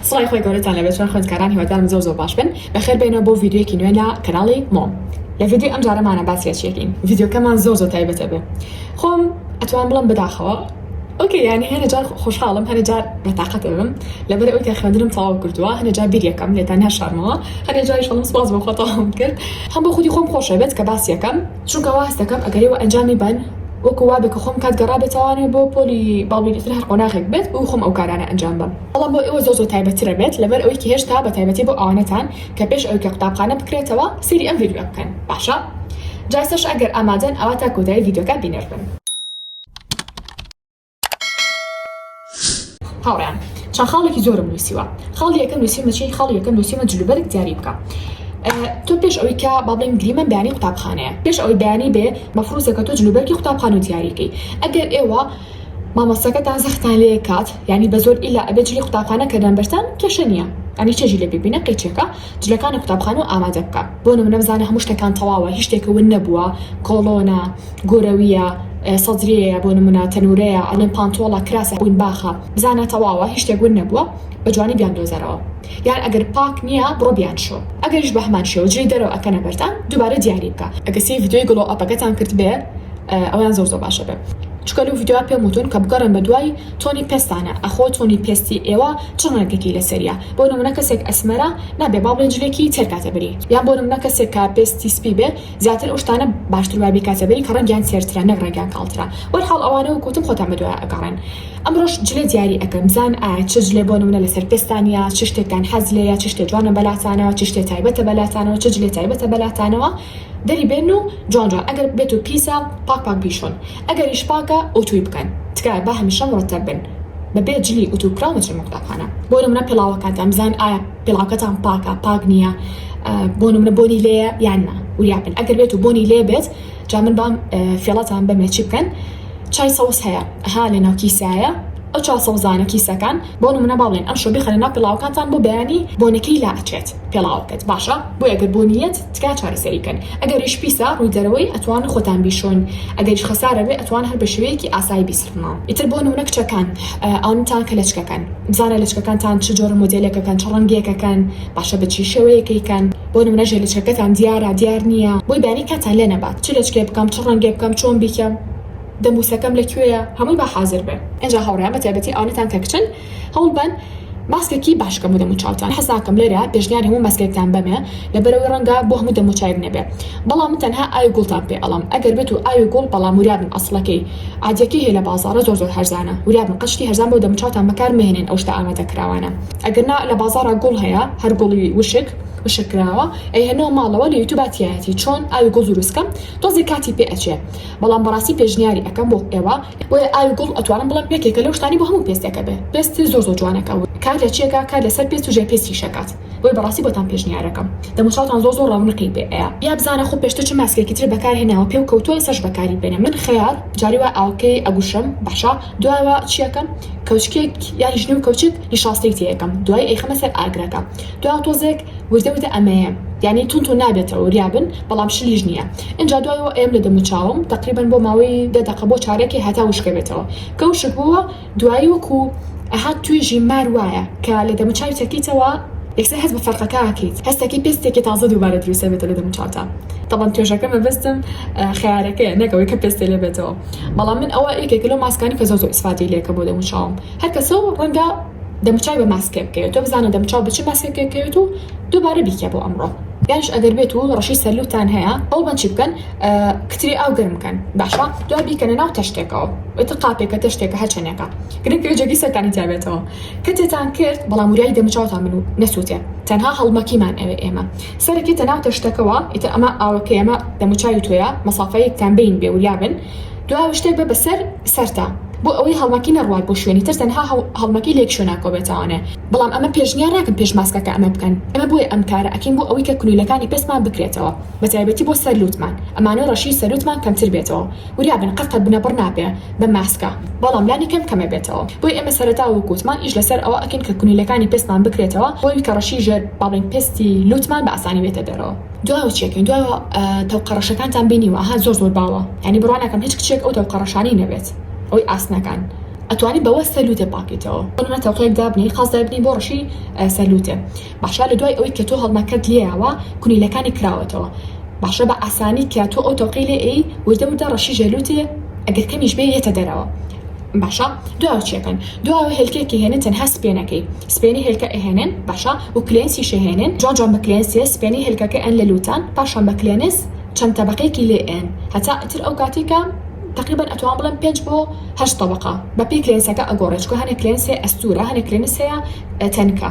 سڵاوی خوای گەورەتان لەبێت چۆن خوێندکاران هیوادارم زۆر زۆر باش بن بەخێر بێنەوە بۆ ڤیدیۆیەکی نوێ لە کەناڵی مۆم لە ڤیدیۆی ئەم جارەمانە باس لە چیەکەین ڤیدیۆکەمان زۆر زۆر تایبەتە بۆ خۆم ئەتوان بڵم بەداخەوە ئۆکەی یانی هەنە جار خۆشحاڵم هەنە جار بەتاقەت ئەبم لەبەر ئەوی کە خوێندنم تەواو کردووە هەنە جار بیریەکەم لێتان ناشارمەوە هەنێ جاری شڵم سپاس بۆ خۆتەواوم کرد هەم بۆ خودی خۆم خۆشە بێت کە باس یەکەم چونکە وا هەست دەکەم ئەگەر ئێوە ئەنجامی بەن وەکو وابێ کە خۆم کات گەڕابێتەوانە بۆ پۆلی باڵوی لەتر هەر قۆناغێک بێت بۆی خۆم ئەو کارانە ئەنجام بەم. بەڵام بۆ ئێوە زۆر زۆر تایبەتتر ئەبێت لەبەر ئەوەی کە هێشتا بە تایبەتی بۆ ئەوانەتان کە پێش ئەوەی کە قوتابخانە بکرێتەوە سەیری ئەم ڤیدیۆیە بکەن باشە جا ئێستاش ئەگەر ئامادەن ئەوا تا کۆتایی ڤیدیۆکە بینەر بن. هاوڕێیان چەند خاڵێکی زۆرم نووسیوە خاڵی یەکەم نووسیمە چی خاڵی یەکەم نووسیمە جلوبەرگ دیاری بکە تۆ پێش ئەوی کە با بڵێن گریمەن بەیانی قوتابخانەیە پێش ئەوی بەیانی بێ مەفروزە کە تۆ جلوبەرگی قوتابخان و دیاریکەی ئەگەر ئێوە مامۆستاکە تازختان لێ کات یانی بە زۆر ئیلا ئەبێ جلی قوتابخانە کە دەن بەرتان کێشە نییە ئەنی چێژی لێ ببینە قیچەکە جلەکانی قوتابخانە ئامادە بکە بۆ نمونە بزانە هەموو شتەکان تەواوە هیچ شتێکە ون نەبووە کۆڵۆنە گۆرەویە سەدرەیە بۆ نمونە تەنورەیە ئەلێن پانتۆڵە کراسە بووین باخە بزانە تەواوە هیچ شتێک ون نەبووە بە جوانی بیان دۆزەرەوە یار ئەگەر پاک نیە بڕۆ بیان شۆ ئەگەریش بەهەمان شێوە جلی دەرەوە ئەکەنە بەردان دوبارە دیاری بکە. ئەگە سەیر ڤیدیۆی گڵۆ ئەپەکەتان کردبێ ئەوەیان زۆر زۆر باشە بێ چونکە لەو ڤیدیۆیە پێم وتون کە بگەڕێن بە دوای تۆنی پێستانە ئەخۆ تۆنی پێستی ئێوە چ ڕەنگێکی لەسەریە بۆ نمونە کەسێک ئەسمەرە نابێ با بڵێن جلێکی تێر کاتە بەری یان بۆ نمونە کەسێک کە پێستی سپی بێ زیاتر ئەو شتانە باشتر وای بیکاتە بەری کە ڕەنگیان تێرترە نەک ڕەنگیان کاڵترە وەلحاڵ ئەوانە وەک وتم خۆتان بە دوایە ئەگەڕێن. ئەمڕۆش جلێ دیاری ئەکەم بزان ئایا چ جلێ بۆ نمونە لەسەر پێستانیە چ شتێکتان حەز لێیە چ شتێ جوانە بەلاتانەوە چ شتێ تایبەتە بەلاتانەوە چ جلێ تایبەتە بەلاتانەوە دەری بێنن و جوان جوان ئەگەر بێت و پیسە پاک پاک بیشۆن ئەگەریش پاکە ئوتووی بکەن تکایە با هەمیشە مڕتەب بن بەبێ جلی ئوتوو کراو نەچن بۆ قوتابخانە. بۆ نمونە پێڵاوەکانتان بزان ئایا پێڵاوکەتان پاکە پاک نیە بۆ نمونە بۆنی لێیە یان نا وریا بن ئەگەر بێت و بۆنی لێ بێت جا من بام فێڵتان بەمێ چی بکەن چای سەوز هەیە ها لە ناو کیسایە ئەو چا سەوزانە کیسەکان بۆ نمونە با بڵێن ئەمشۆ بیخەنە ناو پێڵاوکانتان بۆ بەیانی بۆنەکەی لا ئەچێت پێڵاوەکەت باشە بۆیە گەر بۆ نیەت تکا چارەسەری بکەن ئەگەریش پیسە ڕووی دەرەوەی ئەتوان خۆتان بیشۆن ئەگەریش خەسارە بێ ئەتوان هەر بە شێوەیەکی ئاسایی بیسڕنەوە ئیتر بۆ نمونە کچەکان ئەوانتان کە لەچکەکەن بزانە لەچکەکانتان چ جۆرە مۆدێلێکەکەن چ ڕەنگێکەکەن باشە بە چی شێوەیەکەی کەن بۆ نمونە ژێ لچەکەتان دیارە دیار نیە بۆی بانی کاتتان لێ نەبات چ لەچکێ بکەم چ ڕەنگێ بکەم چۆن بیکەم دەموسەکەم لە کوێیە هەمووی با حازر بێ ئینجا هاوڕێیان بە تایبەتی ئەوانەتان کە کچن هەوڵ بەن ماسکێکی باش کە بۆ دەمو چاوتان حەز ناکەم لێرە پێشنیاری هەموو ماسکێکتان بەمێ لەبەرەوەی ڕەنگە بۆ هەموو دەمو چاوێک نەبێ بەڵام من تەنها ئاوی گوڵتان پێ ئەڵەم ئەگەر بێت و ئاوی گوڵ بەڵام وریابن ئەسڵەکەی عادیەکەی هەیە لە بازاڕە زۆر زۆر هەرزانە وریابن قەشتی هەرزان بۆ دەمو چاوتان بەکار مەهێنێن ئەو شتە ئامادە کراوانە ئەگەر نا لە بازاڕا گوڵ هەیە هەر گوڵی وشک وشک کراوە ئەیهنەوە ماڵەوە لە یوتوبا تیایەتی چۆن ئاوی گوڵ دروست کەم تۆزێ کاتی پێ ئەچێ بەڵام بەڕاستی پێشنیاری ئەکەم بۆ ئێوە بۆیە ئاوی گوڵ ئەتوانم بڵێم یەکێکە لەو شتانەی بۆ هەموو پێستێک ئەبێ پێستی زۆر زۆر جوانەکە و کار لە چی ئەکا کار لەسەر پێست و ژێر پێست ئیش ئەکات بۆیە بەڕاستی بۆتان پێشنیار ئەکەم دەم و چاوتان زۆر زۆر ڕەونقی پێ ئەیا یا بزانە خۆ پێشتر چ ماسکێکی تر بەکار هێناوە پێو کەوتووە ئێستاش بەکاری بێنە من خەیار جاری وا ئاوەکەی ئەگوشم باشە دواوە چیەکەم کەوچکێک یانی ژنو کەوچک نیشاستەی تێیەکەم دوای ئەیخەمە سەر ئاگرەکە دوا تۆزێک وردە وردە ئەمەیە یانی تون تون نابێتەوە وریابن بەڵام شلیش نییە ئینجا دوایەوە ئەیەم لە دەموچاوم تەقریبەن بۆ ماوەی دە دەقە بۆ چارەکێ هەتا وشکەبێتەوە کە وشک بووە دوایی وەکو ئەها توێژی مار وایە کە لە دەموچاوی چەکیتەوە یەکسەر هەست بە فەرقەکە ئەکەیت هەستەکەی پێستێکی تازە دووبارە دروست ئەبێتە لە دەموچاوتا تەبەن توێژەکە مەبەستم خەیارەکەیە نەک ئەوەی کە پێستێ لێ بێتەوە. بەڵام من ئەوە یەکێکە لەو ماسکانی کە زۆر زۆر ئیسفادەی لێکە بۆ دەموچاوم هەر کەسە و ڕەنگە دەموچاوی بە ماسکێک بکەوێت تۆ بزانە دەموچاو بە چ ماسکێک کەوێت و دووبارە بیکە بۆ ئەمڕۆ یانش ئەگەر بێت و ڕەشی سەرلوتان هەیە ئەو بەن چی بکەن کتری ئاو گرم بکەن باشە دو بیکەنە ناو تەشتێکەوە ئەت قاپێکە تەشتێکە هەچەنێکە گرنگ جەگی سەرتانی تابێتەوە کەتێتان کرد بەڵام وریایی دەموچاوتان من و نەسووتێ تەنها هەڵمەکیمان ئەوێ ئێمە سەرت یەتە ناو تەشتەکەوە ئیتر ئەمە ئاوە کەیەمە دەموچاوی تۆیە مەسافەیەک تان بین بێ وریا بن دوا وشتر بە بەسەر سەرتا بۆ ئەوەی هەڵمەکی نەڕوات بۆ شوێنی تر تەنها هەڵمەکی لێک شوێ ناکۆبێتەوانێ بەڵام ئەمە پێشنیا ناکەم پێش ماسکەکە ئەمە بکەن ئەمە بۆیە ئەم کارە ئەکەین بۆ ئەوەی کە کنویلەکانی پێستمان بکرێتەوە بەتایبەتی بۆ سەر لوتمان ئەمانۆ ڕەشی سەروتمان کەمتر بێتەوە وریا بن قەت بنە بڕ نابێ بە ماسکە بەڵام لانی کەم کەمێ بێتەوە بۆی ئێمە سەرەتا وەک وتمان ئیش لەسەر ئەوە ئەکەین کە کونیلەکانی پێستمان بکرێتەوە بۆی کە ڕەشی ژێر با بڵێین پێستی لوتمان بە ئاسانی بێتە دەرەوە. دوایەوە چیەکەین دوایەوە تەوقە ڕەشەکانتان بینیوە ئەها زۆر زۆر باوە یانی بڕوا ناکەم هیچ کچێک ئەو تەوقە ڕەشانەی نەبێت ئەوەی ئاسنەکان ئەتوانی بەوە سەر لوتێ پاکەیتەوە بۆ نمونە تەوقەیەک دابنێی قاز دابنێی بۆ ڕەشی سەر لوتێ باشە لە دوای ئەوەی کە تۆ هەڵمەکەت لێیاوە کونیلەکانی کراوەتەوە باشە بە ئاسانی کە تۆ ئەو تەوقەی لێ ئەیی وردە وردە ڕەشی ژێلوتێ ئەگەر کەمیش بێ یەتە دەرەوە باشە دوای ئەوە چێکەن دوای ئەوە هێلکەیەکی هێنن تەنها سپێنەکەی سپێنی هێلکە ئەهێنن باشە و کلێنسیش ئەهێنن جوان جوان بە کلێنسێ سپێنی هێلکەکە ئەن لە لوتان پاشان بە کلێنس چەند تەبەقەیەکی لێ ئەیەن هەتا ئیتر ئەو کاتەی کە تەقریبەن ئەتوان بڵێم پێنج بۆ هەشت تەبەقە بە پێی کلێنسەکە ئەگۆڕێ چکە هەنێ کلێنسێ ئەستورە هەنێ کلێنس هەیە تەنکە.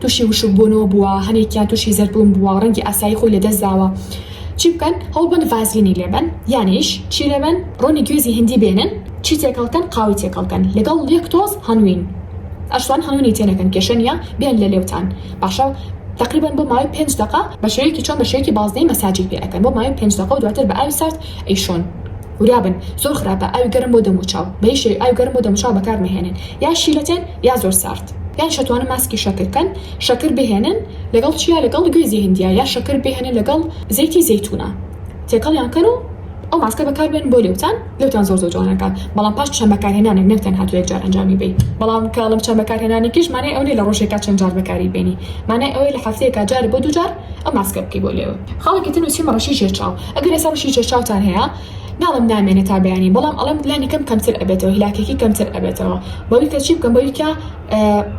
توشی وشک بونەوە بوە هەنێکیان توشی زەرد بون بوە ڕەنگی ئاسایی خۆی لەدەست داوە چی بکەن هەوڵبەن ڤازلینی لێبەن یانیش چی لێبەن ڕۆنی گوێزی هندی بێنن چی تێکەڵ کەن قاوەی تێکەڵ کەن لەگەڵ یەک تۆز هەنوین ئەشتوان هەنونی تێ نەکەن کێشە نیە بێن لە لێوتان باشە تەقریبەن بۆ ماوەی پێنج دەقە بەشێوەیەکی چۆن بەشێوەیەکی بازنەی مەساجی پێ ئەکەن بۆ ماوەی پێنج دەقە و دواتر بە ئاوی سارد ئەیشۆن. ورابن زۆر خراپە ئاوی گەرم بۆ دەموچاو بە هیچ شێوەیەک ئاوی گەرم بۆ دەموچاو بەکار مەهێنن یا شیلەتێن یا زۆر سارد یانیش ئەتوانن ماسکی شەکر کەن شەکر بهێنن لەگەڵ چیا لەگەڵ گوێزی هندیە یا شەکر بهێنن لەگەڵ زەیتی زەیتونە تێکەڵیان کەن و ئەو ماسکە بەکار بێنن بۆ لێوتان لێوتان زۆر زۆر جوان ئەکات بەڵام پاش چەند بەکارهێنانێک نەک تەنها تۆ یەکجار ئەنجامی بەی بەڵام کە ئەڵێم چەند بەکارهێنانێکیش مانای ئەو نیە لە ڕۆژێکا چەند جار بەکاری بێنی مانای ئەوەی لە هەفتەیەکا جار بۆ دوو جار ئەو ماسکە بکەی بۆ لێوت خاڵێکی تر نوسیومە ڕەشی ژێر چاو ئەگەر ئێستا مشکی چێشتچاوتان هەیە ناڵێم نامێنێ تا بەیانی بەڵام ئەڵێم لانی کەم کەمتر ئەبێتەوە هیلاکێکی کەمتر ئەبێتەوە بەوی کە چی بکەم بەوی کە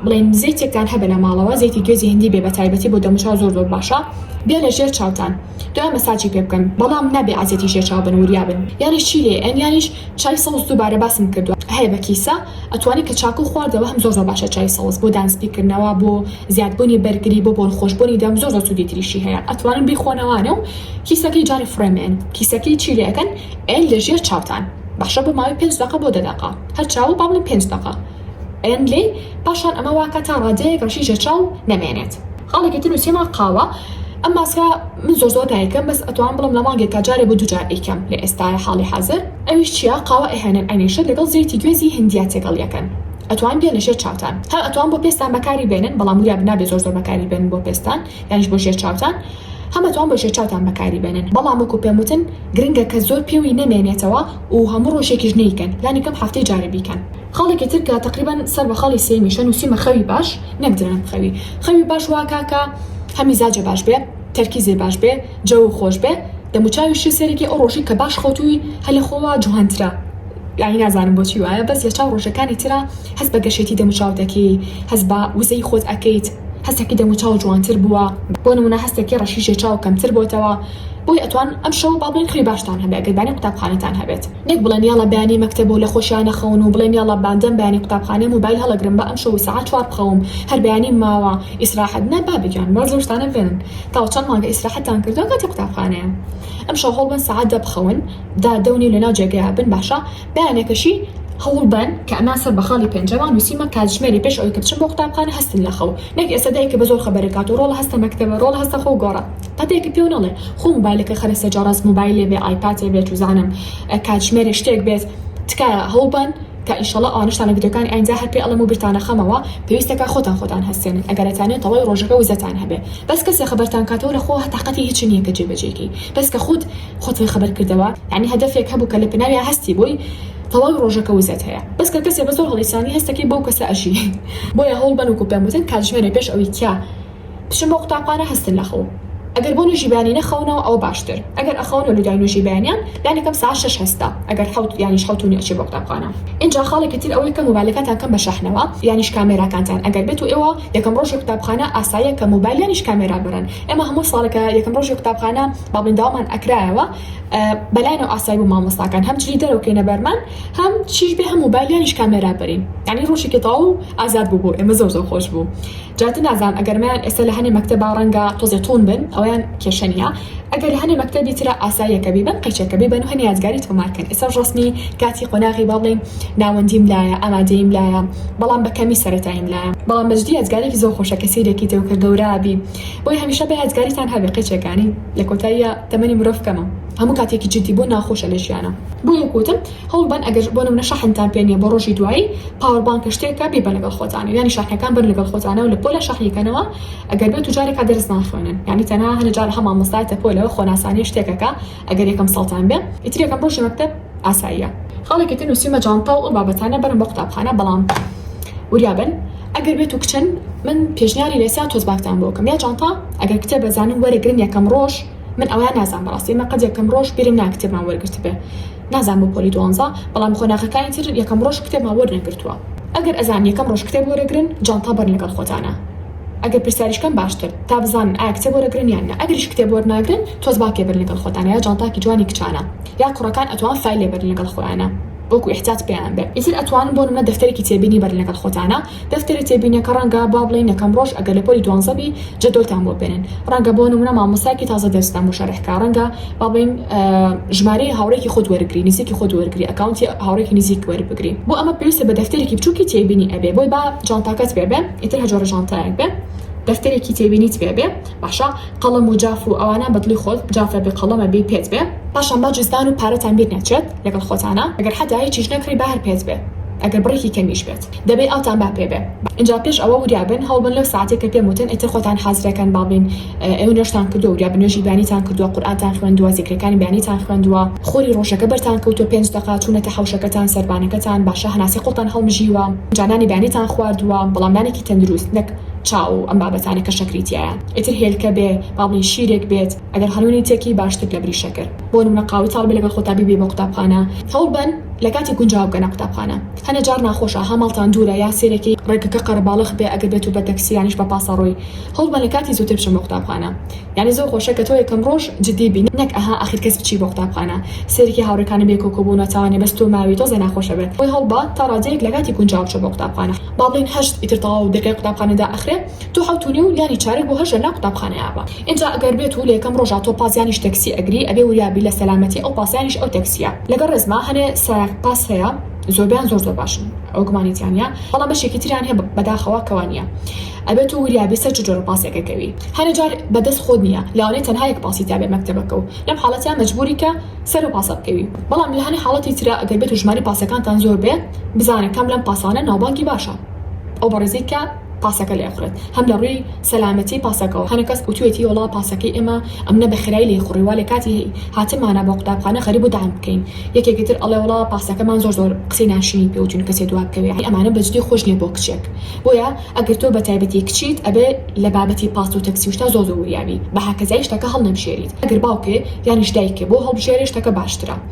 بڵێن زەیتێکتان هەبە لە ماڵەوە زەیتی گوێزی هندی بێ بە تایبەتی بۆ دەموچاو زۆر زۆر باشە بێ لە ژێر چاوتان دوای مەساجی پێ بکەن بەڵام نابێ عزیەتی ژێر چاو بن وریا بن یانی چی لێ ئەن یانیش چای سەوز دووبارە باسم کردووە هەیە بە کیسە ئەتوانی کە چاکو خواردەوە هەم زۆر زۆر باشە چای سەوز بۆ دانسپیکردنەوە بۆ زیادبوونی بەرگری بۆ بۆنخۆشبوونی دەم زۆر زۆر سوودی تریشی هەیە ئەتوانن بیخۆنەوانە و کیسەکەی جارێ فڕێمێن کیسەکەی چی لێ ئەکەن ئەیەن لە ژێر چاوتان باشە بۆ ماوەی پێنج دەقە بۆ دە دەقە هەر چاوە با بڵێن پێنج دەقە ئەیەن لێی پاشان ئەمە واکە تا ڕادەیەک ڕەشی ژێر چاو نەمێنێت خاڵێکی تر نووسیمە قاوە ئەم ماسکە من زۆر زۆر دایکەم بەس ئەتوان بڵم لە مانگێکا جارێ بۆ دوجار ئەیکەم لە ئێستاە حاڵی حازر ئەویش چیە قاوە ئەهێنن ئەنیشن لەگەڵ زەیتی گوێزی هندیا تێکەڵ یەکەن ئەتوان بێنە ژێر چاوتان هەم ئەتوان بۆ پێستان بەکاری بێنن بەڵام وریابن نابێ زۆر زۆر بەکاری بێنن بۆ پێستان یانیش بۆ ژێر چاوتان هەم ئەتوان بۆ ژێر چاوتان بەکاری بێنن بەڵام وەکو پێم وتن گرنگە کە زۆر پێوی نەمێنێتەوە و هەموو ڕۆژێکیش نەیکەن لانی کەم هەفتەی جارێ بیکەن. خاڵێکی تر کە تەقریبەن سەر بە خاڵی سێیمیشە نووسیومە خەوی باش نەک درەنگ خەوی خەوی باش وا کا کە هە میزاجێ باش بێ تەرکیزێ باش بێ، جەوو خۆش بێ دەمو چاوی شی سەرەکی ئەو ڕۆژی کە باش خەوتوی هە لە خۆوە جوان ترە یانی نازانم بۆچی وایە بەس لە چاو ڕۆژەکانی ترا هەست بە گەشێتی دەمو چاو دەکەی هەست بە وزەی خۆت ئەکەیت هەستەکی دەمو چاو جوانتر بوە بۆ نمونە هەستەکی ڕەشی ژێ چاو کەمتر بۆتەوە بۆی ئەتوان ئەم شەوە با بڵێن خوێی باشتان هەبێ گەر بانی قوتابخانەتان هەبێت نەک بڵێن یاڵا بەیانی مەکتەب و لە خۆشیا نەخەون و بڵێن یاڵا باندەم بەیانی قوتابخانەی موبایل هەڵەگرم با ئەم شەوە سەعات چوار بخەوم هەر بەیانیم ماوە ئیسراحەت نە بابە گیان وا زۆر شتانە بێنن تاوە چەند مانگە ئیسراحەتتان کردوە کاتی قوتابخانەیە ئەمشەو هەوڵبەن سەعات دە بخەون دا دە و نیو لەناو جێگەیا بن باشە بەیانێکەشی هەوڵبەن کە ئەمان سەر بە خاڵی پێنجەمە نووسیمە کاتژمێری پێش ئەوەی کە بچن بۆ قوتابخانە هەستن لە خەو نەک ئێستا دایکە بە زۆر خەبەرێک هاتوو ڕۆڵە هەستە مەکتەبە ڕۆڵە هەستە خۆو گۆڕە پەتێکی پێو نەڵێ خۆ موبایلەکە خەرە سەر جا ڕاست موبایلێ بێ ئایپاتێ بێ چوزانم کاتژمێرێ شتێک بێت تکایە هەوڵبەن کە ئینشەڵا ئەوانەشتان لە ڤیدیۆکانی ئایندا هەر پێ ئەڵێم و بیرتان نەخەمەوە پێویستەکە خۆتان خۆتان هەستێنن ئەگەر ئەتانەوێ تەواوی ڕۆژەکە وزەتان هەبێ بەس کەسێ خەبەرتان کاتەوە لە خۆوه تاقەتی هیچی نیە کە جێ بەجێی کەی بەس کە خۆت خۆت فێ خەبەر کردەوە یانی هەدەفێک هەبوو کە لە پناویا هەستی بۆی تەواوی ڕۆژەکە وزەت هەیە بەس کە کەسێ بە زۆر هەڵیسانی هەستەکەی بەو کەسە ئەژی بۆیە هەوڵ بەن وەکو پێم وتن کاتژمێرێ پێش ئەوی کە بچن بۆ قوتابخانە هەستن لە خەو ئەگەر بۆ نوێژی بەیانی نەخەونەوە ئەوە باشتر ئەگەر ئەخەونەوە لە دوای نوێژی بەیانیان لانی کەم سەعات شەش هەستە ئەگەر حەوت یانیش حەوت و نیو ئەچێ بۆ قوتابخانە ئینجا خاڵێکی تر ئەوەی کە موبایلەکانتان کەن بە شەحنەوە یانیش کامێراکانتان ئەگەر بێت و ئێوە یەکەم ڕۆژی قوتابخانە ئاساییە کە مۆبایلیانیش کامێرا بەرن ئێمە هەموو ساڵە کە یەکەم ڕۆژی قوتابخانە بابنداومان ئەکرایەوە بەلایەنەوە ئاسایی بوو مامۆستاکان هەم چی دەرەوە کەینە بەرمان هەم چیش بێ هەم مۆبایلیانیش کامێرا بەرین یعنی ڕۆژێکی تەواو ئازاد بوو بۆ ئێمە زۆر زۆر خۆش بوو جاتە نازانم ئەگەرمیان ئێستا لە هەنێ مەکتەبا ڕەنگە تۆزێ تون بن ئەویان کێشە نییە ئەگەر لە هەنێ مەکتەبی ترا ئاساییە کە بیبەن قەیچەکە بیبەن و هەنێ یادگاری تۆمار کەن ئێستاش ڕەسمی کاتی قۆناغی با بڵێین ناوەندیم لایە ئامادەییم لایە بەڵام بە کەمی سەرەتاییم لایە بەڵام بەجدی یادگارێکی زۆر خۆشە کە سەیرێکی تێو کە گەورابی بۆی هەمیشە بە یادگاریتان هەبێ قەیچەکانی لە کۆتاییا تەمەنی مرۆڤ کەمە هەموو کاتێکی جدی بوون ناخۆشە لە ژیانا بۆ یەک وتم. هەوڵ بەن ئەگەر بۆ نمونە شەحنتان پێ نیە بۆ ڕۆژی دوایی پاوەر بانکە شتێکە بیبەن لەگەڵ خۆتان یانی شاحنەکان بەن لەگەڵ خۆتانە و لە پۆلە شەحنی کەنەوە ئەگەر بێتو جارێکا دەرس ناخوێنن یانی تەنها هەنە جارە هە مامۆستایە تە پۆلە خۆ ناسانیە شتێکەکە ئەگەر یەکەم ساڵتان بێ ئیتر یەکەم ڕۆژی مەکتەب ئاساییە خاڵێکی تر نوسیومە جانتاو ئەو بابەتانە بەرن بۆ قوتابخانە بەڵام وریا بن ئەگەر بێتو کچن من پێشنیاری لێسیا تۆزباکتان بۆکەم یا جانتا ئەگەر کتێبە زانن وەرەگرن یەکەم ڕۆژ من ئەوە نازام بەڕاستی من قەت یەکەم ڕۆژ بیرم نا کتێبمان وەرگرتبێ نازام بۆ پۆلی دوانزە بەڵام قۆناغەکانی تر یەکەم ڕۆژ کتێبمان وەرنەگرتووە ئەگەر ئەزان یەکەم ڕۆژ کتێب وەرەگرن جانتا بەرن لەگەڵ خۆتانا ئەگەر پرسیاریش کەن باشتر تا بزانن ئایا کتێب وەرەگرن یان نا ئەگەریش کتێب وەرناگرن تۆز با پێبەرن لەگەڵ خۆتانا یا جانتاکی جوانی کچانە یا کوڕەکان ئەتوان فایل لێ بەرن لەگەڵ خۆیانا وەکو ئیحتیاج پێیان بێ ئیتر ئەتوانن بۆ نمونە دەفتەرێکی تێبینی بەرن لەگەڵ خۆتانا. دەفتەری تێبینیە کە ڕەنگە با بڵێین یەکەم ڕۆژ ئەگەر لە پۆلی دوانزە بی جەدۆلتان بۆ بێنن ڕەنگە بۆ نمونە مامۆستایەکی تازە دەرستان بۆ شەرح کا ڕەنگە با بڵێین ژمارەی هاوڕێکی خۆت وەرگری نزیکی خۆت وەرگری ئەکاونتی هاوڕێکی نزیک وەربگری بۆ ئەمە پێویستە بە دەفتەرێکی بچوکی تێبینی ئەبێ بۆی با جانتاکەت پێ بێ ئیتر هەر جۆرە جانتایەک بێ دەفتەرێکی تێبینیت پێ بێ باشە قەڵەم و جاف و ئەوانە بە دڵی خۆت جافە بێ قەڵەمە بێ پێت بێ پاشان با جزدان و پارەتان بیر نەچێت لەگەڵ خۆتانە ئەگەر حەتا هیچیش نەکڕی با هەر پێت بێ ئەگەر بڕێکی کەمیش بێت دەبێ ئاوتان با پێ بێ. ئینجا پێش ئەوە وریا بن هەوڵ بن لەو سەعاتەی کە پێم وتن ئیتر خۆتان حازرە کەن با بڵێن ئێوە نوێژتان کردووە وریا بن نوێژی بەیانیتان کردووە قورئانتان خوێندووە زیکرەکانی بەیانیتان خوێندووە خۆری ڕۆژەکە بەرتان کەوتووە پێنج دەقە چوونەتە حەوشەکەتان سەربانەکەتان باشە هەناسەی قوڵتان هەڵمژیوە ئینجا نانی بەیانیتان خواردووە بەڵام نانێکی تەندروست نەک چا و ئەم بابەتانە کە شەکری تیایە ئیتر هێلکە بێ با بڵێن شیرێک بێت ئەگەر خانوونی تێکی باشتر لە بری شەکر بۆ نموونە قاوەی تاڵ بێ لەگەڵ خۆتا بیبەی بۆ قوتابخانە هەوڵ بەن لە کاتی گونجاو بگەنە قوتابخانە هەنە جار ناخۆشە ها ماڵتان دوورە یا سێرێکی ڕێگەکە قەرەباڵخ بێ ئەگەر بێتو بە تەکسی یانیش بە پاسەڕۆی هەوڵ بەن لە کاتی زووتر بچن بۆ قوتابخانە یانی زۆر خۆشە کە تۆ یەکەم ڕۆژ جدی بی نەک ئەها ئاخیر کەس بچی بۆ قوتابخانە سێرێکی هاوڕێکانە بێ کۆکۆ بۆ ناتاوانە بەس تۆ ماوی تۆزێ ناخۆشە بەر خۆی هەوڵ بە تا ڕادەیەک لە کاتی گونجاو بچە بۆ قوتابخانە با بڵێین هەشت ئیتر تەواو دەرگای قوتابخانە دائەخرێ. تۆ حەوت و نیو یانی چارەک بۆ هەژێ نا قوتابخانەی ئاڤا ئینجا گەر بێت و لە یەکەم ڕۆژا تۆ پاس یانیش تەکسی ئەگری ئەبێ وریا بی لە سەلامەتی ئەو پاس یانیش ئەو تەکسیە لەگەڵ ڕێزما هەنێ سایەق پاس هەیە زۆربەیان زۆر زۆر باشن ئەوە گومانی تیا نیە بەڵام بەشێکی تریان هەیە بەداخەوە کەوا نیە ئەبێ تۆ وریا بی سەر چ جۆرە پاسێک ئەکەوی هەنێ جار بە دەست خۆت نیە لەوانەیە تەنها یەک پاسی تیا بێ مەکتەبەکە و لەم حاڵەتیا مەجبوری کە سەر ئەو پاسە بکەوی بەڵام لە هەنێ حاڵەتی ترا گەر بێت و ژماری پاسەکانتان زۆر بێ بزانە کام لەم پاسانە ناوبانگی باشە ئەو بەڕێزەی کە پاسەکە لێ ئەخورێت هەم لە ڕووی سەلامەتی پاسەکەوە هەنە کەس وتوێتی وەڵا پاسەکەی ئێمە ئەمنە بە خێرای لێی خوڕی وا لێ کاتی هاتنمانە بۆ قوتابخانە خەریک بوو داعم بکەین یەکێکی تر ئەڵێ وەڵا پاسەکەمان زۆر زۆر قسەی ناشرینی پێ وتوین کەسێ دوا بکەوێ ئەی ئەمانە بەجدی خۆش نیە بۆ کچێک بۆیە ئەگەر تۆ بە تایبەتی کچیت ئەبێ لە بابەتی پاس و تەکسی و شتا زۆر زۆر وریا بی بە هەکەزای شتەکە هەڵنەبژێریت ئەگەر باوکێ یانیش دایکێ بۆ هەڵبژێرێ شتەکە باشترە.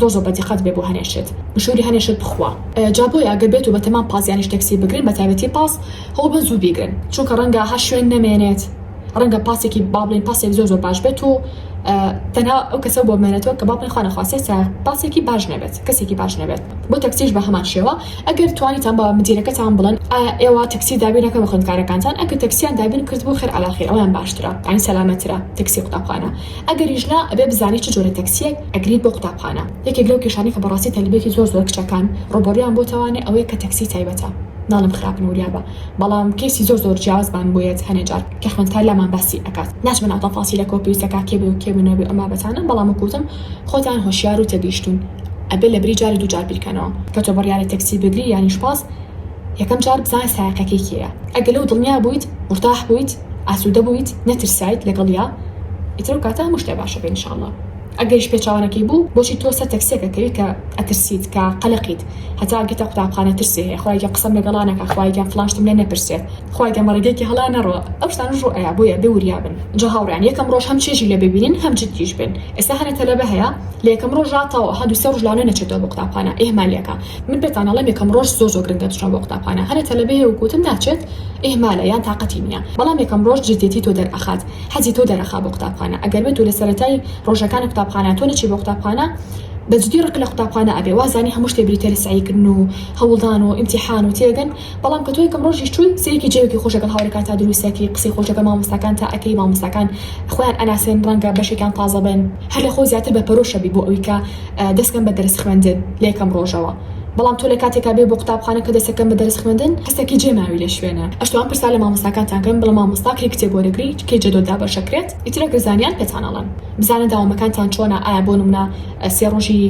زۆر زۆر بەدیقەت بێ بۆ هەنێ شت مشوری هەنێ شت بخوا جا بۆیە ئەگەر بێتو بەتەمام پاس یانیش تەکسی بگرن بەتایبەتی پاس هەوڵبەن زوو بیگرن چونکە ڕەنگە هەر شوێن نەمێنێت ڕەنگە پاسێکی با بڵێن پاسێک زۆر زۆر باش بێت و تەنها ئەو کەسە بۆ بمێنێتەوە کە با بڵێن خوا نەخواستێ سا پاسێکی باش نەبێت کەسێکی باش نەبێت بۆ تەکسیش بە هەمان شێوە ئەگەر توانیتان بە مدیرەکەتان بڵێن ئایا ئێوە تەکسی دابینەکە بە خوێندکارەکانتان ئەگەر تەکسیان دابین کرد بۆ خێر عەلاخیر ئەویان باشترە یانی سەلامەتترە تەکسی قوتابخانە ئەگەریش نا ئەبێ بزانی چ جۆرە تەکسیەک ئەگریت بۆ قوتابخانە یەکێک لەو کێشانەی کە بەڕاستی تەلبێکی زۆر زۆر کچەکان ڕوبەڕویان بۆتەوانێ ئەوەیە کە تەکسی تایبەتە ناڵێم خراپن وریابە بەڵام کەیسی زۆر زۆر جیاوازمان بۆیەت هەنێ جار کە خوێندکار لامان باسی ئەکات ناچمە ناو تەفاسیلە کۆ پێویستە کاک کێ بێ و کێ بوو نەبێ و ئەم بابەتانە بەڵام وەکو وتم خۆتان هۆشیار و تێگەیشتون ئەبێ لە بری جاری دوو جار بیرکەنەوە کە تۆ بڕیارە تەکسی بگری یانیش پاس یەکەم جار بزانە سایەقەکەی کێیە ئەگە لەو دڵنیا بویت مورتاح بویت ئاسودە بویت نەترسایت لەگەڵیا ئیتر ئەو کاتە هەموو شتێ باشە بێ انشاللە ئەگەریش پێچەوانەکەی بوو بۆچی تۆ سەر تەکسیەکە کەویت کە ئەترسیت کە قەلەقیت هەتا ئەگەیتە قوتابخانە ترسێ هەیە خوایە گیان قسەم لەگەڵا نەکا خوایە گیان فڵان شتم لێ نەپرسێ خوایە گیان بە ڕێگەیەکی هەڵا نەڕوا ئەو شتانەش ڕوو ئەیا بۆیە بێ وریا بن جا هاوڕێیان یەکەم ڕۆژ هەم چێژی لێ ببینن هەم جدیش بن ئێستا هەنێ تەلەبە هەیە لە یەکەم ڕۆژا تەواو ها دوو سێ ڕۆژ لانە نەچێتەوە بۆ قوتابخانە ئیهمالیەکا من پێتان ئەڵێم یەکەم ڕۆژ زۆر زۆر گرنگە بچنە بۆ قوتابخانە هەرە تەلەبەیە و کوتن ناچێت ئیهمالە یان تاقەتی نیە بەڵام یەکەم ڕۆژ جدیەتی تۆ دەرئەخات حەزی تۆ دەرەخا بۆ قوتابخانە ئەگەر بێتو لە سەرەتای ڕۆژەکانی قوتابخانە تۆ نەچی بۆ قوتابخانە بەجدی ڕق لە قوتابخانە ئەبێ وازانی هەموو شتێ بریتە لە سەعی کردن و هەوڵدان و ئیمتیحان و تێگەن بەڵام کە تۆ یەکەم ڕۆژیش چووی سەیرێکی جەوێکی خۆش لەگەڵ هاوڕێکانتا دروست ئەکەی قسەی خۆش لەگەڵ مامۆستاکانتا ئەکەی مامۆستاکان خۆیان ئەناسێن ڕەنگە بەشێکیان تازە بن هەر لە خۆو زیاتر بە پەرۆشەبی بۆ ئەوی کە دەسکەم بە دەرس خوێندن لەیەکەم ڕۆژەوە بەڵام تۆ لەکاتێکا بێ بۆ قوتابخانە کە دەسەکەم بە دەرس خوێندن کەسەکی جێ ماوی لە شوێنە ئەشتوان پرسا لە مامۆستاکانتان کەن بڵە مامۆستا کەی کتێب وەرەگری کەی جەدۆل دابەشە کرێت ئیتر ئەگەر زانیان پێتان ئەڵێم بزانە داوامەکانتان چۆنە ئایا بۆ نمونە سێ ڕۆژی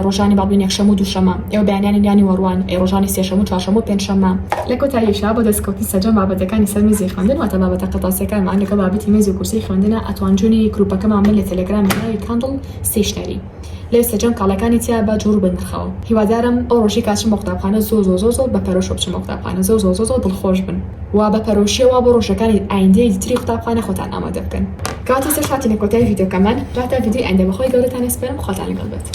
ڕۆژانی با بڵێن یەکشەموو دووشەمە ئێوە بەیانیانی یانی وەڕوان ئەی ڕۆژانی سێشەموو چوارشەموو پێنجشەمە لە کۆتاییشا بۆ دەست کەوتن سەرجەم بابەتەکانی سەر میزی خوێندن واتە بابەتە قەتاسیەکانمان لەگەڵ بابەتی مێزو کورسی خوێندنە ئەتوان جونی گروپەکەمان بن لە تەلەگرامی ناوی کاندڵ ستەیشنەری لێ سەجەم کاڵەکانی تیا بە جوور بن نرخەوە هیوادارم ئەو ڕۆژی کا چم بۆ قوتابخانە زۆ زۆ زۆ زۆ بە پەرۆشەوە بچم بۆ قوتابخانە زۆ زۆ زۆ زۆ دڵ خۆش بن و بە پەرۆشیەوە بۆ ڕۆژەکانی ئایندەی تری قوتابخانە خۆتان ئامادە بکەن. کاتی تر هاتینە کۆتای ڤیدۆکەمان، جا تا ڤیدۆی ئایندە بەخوای گەورەتان ئەسپێرم خواتان لەگەڵ بێت.